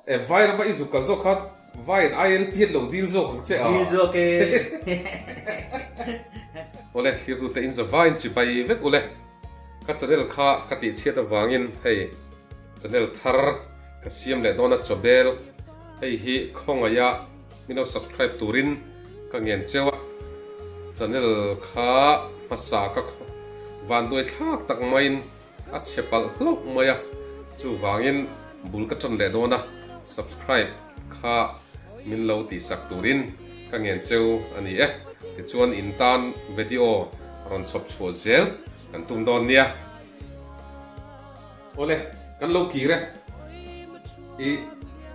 Eh vai rama i zuk kal zawk khan vai in ai lp an lo dil zawk ang che a. Dil zawk e. Awle thirtu te in za vai in chibai vek ule. Ka channel kha ka tih chhiat avang in hei channel thar ka siam leh dawn a chawbel hei hi khawngaih a mino subscribe tur in ka ngen cheu a channel kha hmasa ka vanduai thlak tak mai in a chhe palh hlauh mai a, chuvangin bul ka tan leh dawn a, subscribe kha min lo tihsak turin ka ngen cheu a ni e, tichuan in tan vedio rawn chhawp chhuah zel kan tum dawn nia. Awle kan lo kir e, i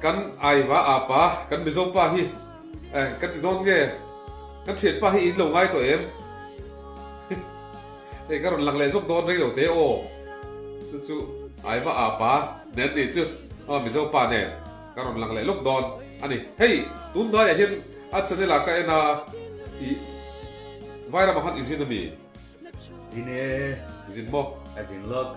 kan aiva apa kan mizo pa hi ka ti dawn nge, kan thianpa hi in lo ngai tawh em? Hei ka rawn lang leh zawk dawn rilo te aw chu chu ai va a pa nen a nih chu aw mizo pa nen ka rawn lang leh lawk dawn a ni hei tun hnai ah hian a channel ah ka en a i Vai ram ah khan i zin a mi? Zin e. Zin maw? Ka zin lawk.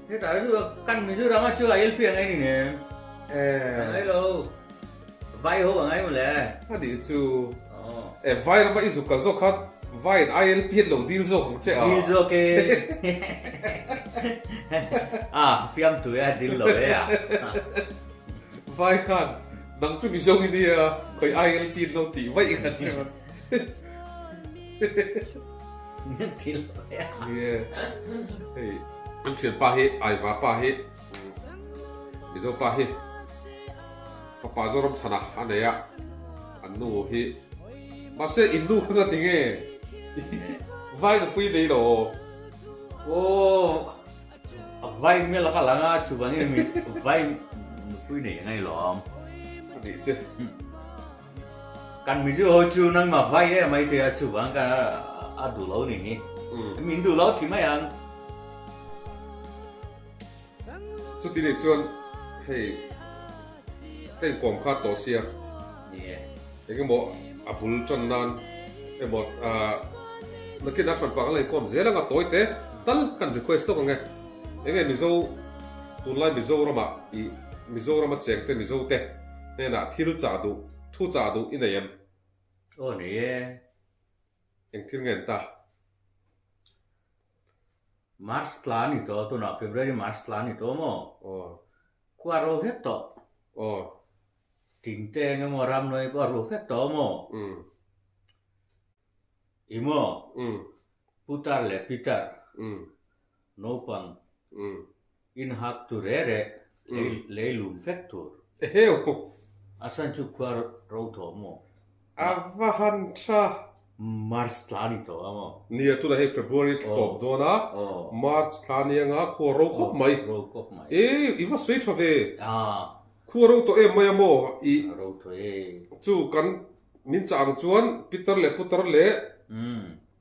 Hetah chu kan min chu rang a chu a lp a ngai ni nge. Eh. Ka ngai lo. Vai ho a ngai maw le. A nih chu. Oh. Eh vai rama i zuk kal zawk kha vai in i lp an lo dil zawk ang che a. Dil zawk e. Ah fiam tui a dil lo e a. Vai khan nang chu mi zawng i nia khawih i lp an lo tih vaih ang a che. thil hei an thil pa hi ai va pa hi mizo pa hi fapa zo ram chana a nei a an nu hi ma se in nu khanga ti nge vai na pui nei lo o vai me la ka langa chu bani mi vai pui nei ngai lo am ani che Kan mizo ho chu nangma vai e mai te a chuvang ka a duh lo ni ni. Min duh lo thi mai ang. Chuti nei chuan hei ka in kawm khat tawh sia. Ni e. Engemaw a bul tan nan emaw nakina thlan panga la in kawm zel anga tawi te tal kan request lawk ang e. Enge mizo tunlai mizoramah i mizoram a cheng te mizo te. hnenah thil chah duh, thu chah duh i nei em? Aw nei e, eng thil ngen ta? March tla a ni tawh, tunah February March tla a ni tawh maw? Aw. Khua ro vet tawh. Aw. Tin te eng emaw ramnawih pawh a ru fet tawh maw? Um. I maw? Um. Putar leh Peter. Um. Naupang inhak tu reh reh, lei lum fek tur. A san chu khua ro thawh maw? A va han tha. March thla a ni tawh a maw? Nia, tunah hi February a tla tawp dawn a, March thla anianga khua ro khawp mai. I, i va sawi tha ve. Khua ro tawh em mai a maw? I chu kan min chah ang chuan Pitar leh Putar leh.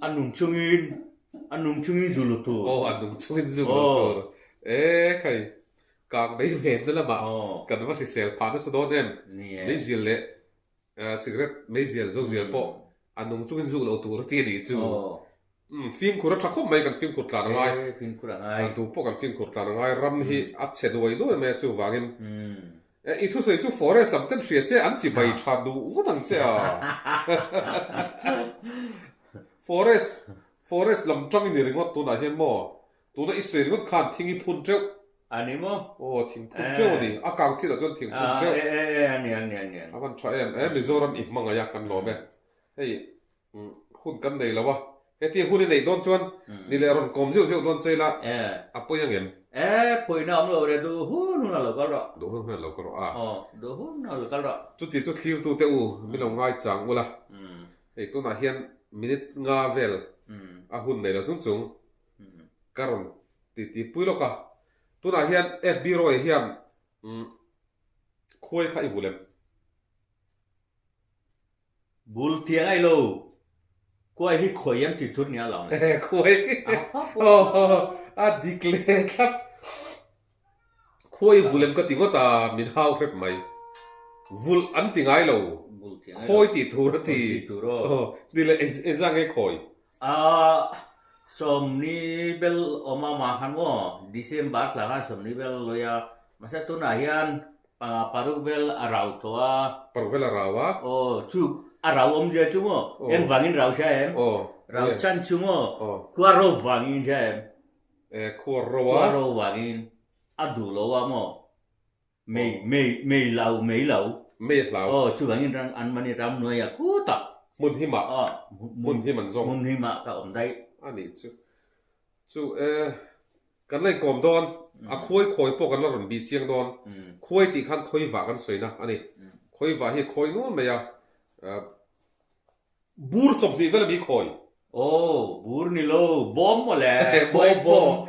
A nung chungin, a nung chungin zu lu tur. Aw, a nung chungin zu lu tur. E khai, kang dei ve na lama kan va hrisel phah nasa dawn em? Meizial leh cigarette meizial, zozial pawh a nung chungin zu lo tur a ti a nih chu. Umm, fimkhur a tha khawp mai kan fimkhur tlan a ngai. Kan duh pawh kan fimkhur tlan a ngai. Ram hi a che duai duai mai a chuvangin. Eh, i thusawi chu forest lam ten hria se an chi bai tha duh vut ang che a. Forest, forest lam tang i ni ringawt tunah hian maw? Tuna i sawi ringawt khan thing i phun teuh. A ni maw? Aw, thing phun teuh a ni. A kang chinah chuan thing phun teuh. Ah, e, e, e, a ni, a ni, a ni. A hman tha em. Eh, Mizoram i hmangaih a, kan lawm e. Hei, Hun kan nei lo a, heti hun i neih dawn chuan ni leh rawn kawm zeuh zeuh dawn che ila a pawi ang em? E, pawina awm lo le, duh hun hun a lo kal rawh. Duh hun hun a lo kal rawh a. Aw, duh hun hun a lo kal rawh. Chuti chu thlir tu te u min lo ngai chang ula, hei tunah hian minute nga vel a hun nei lo chung chung ka rawn titi pui lawk a, tunah hian FB rawih hian khuai kha i vuh lem. Bul tia ngai lo. Khuai hi khuai an ti thur nia lam le. He khuai hi a dik le tlat. Khuai vulem ka ti vat a, min hau hrep mai. Vul an ti ngai lo. Khawi ti thur a ti. Ni le, ei zang nge khawi? Aah, sawmni bel awm a mah khan maw? December tla khan sawmni bel an lawi a, mahse tunah hian panga paruk vel a rau tawh a. Paruk vel a rau a? Aw, chu a rau awm zia chu maw? Aw. Eng vangin rau sia em? Aw. Rau chhan chu maw? Aw. Khua ro vangin sia em? Aw, khua ro a? Khua ro vangin a duh loh a maw? Mei, mei, mei lau, mei lau. Mei hlau. Aw, chuvangin ram an mani ramnuaia khutah. Hmun hi mah. Aw, hmun hi man zawng. Hmun hi mah ka awm daih. A nih chu. Chu e, kan la inkawm dawn. A khuai khawi pawh kan la rawn bih chiang dawn. Khuai tih khan khawi vah kan sawi na a ni. Khawi vah hi khawi nual mai a, a bur sawp hnih vel a mi khawi. Aw, bur ni lo, bawm maw le? Bawm, bawm.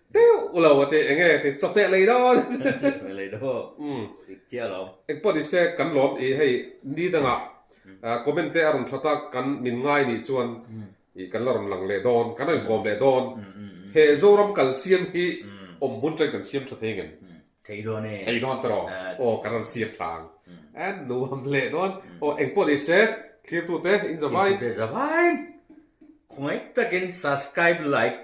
Deuh lo a ti eng nge ti chaw pek lei dawn. Pek mai lei daw dik chiah lo. Eng pawh nise kan lawm i hei ni danga comment te a rawn that a kan min ngai ni chuan i kan la rawn lang leh dawn kan raikawm leh dawn he Zoram kal siam hi awm hun chen kan siam tha thei ngem thei dawn e thei dawn tawh aw kan rawn siam thlang an nuam hleh dawn aw eng pawh ni se thirtute in zavai thirtute zavai khawngaih takin subscribe like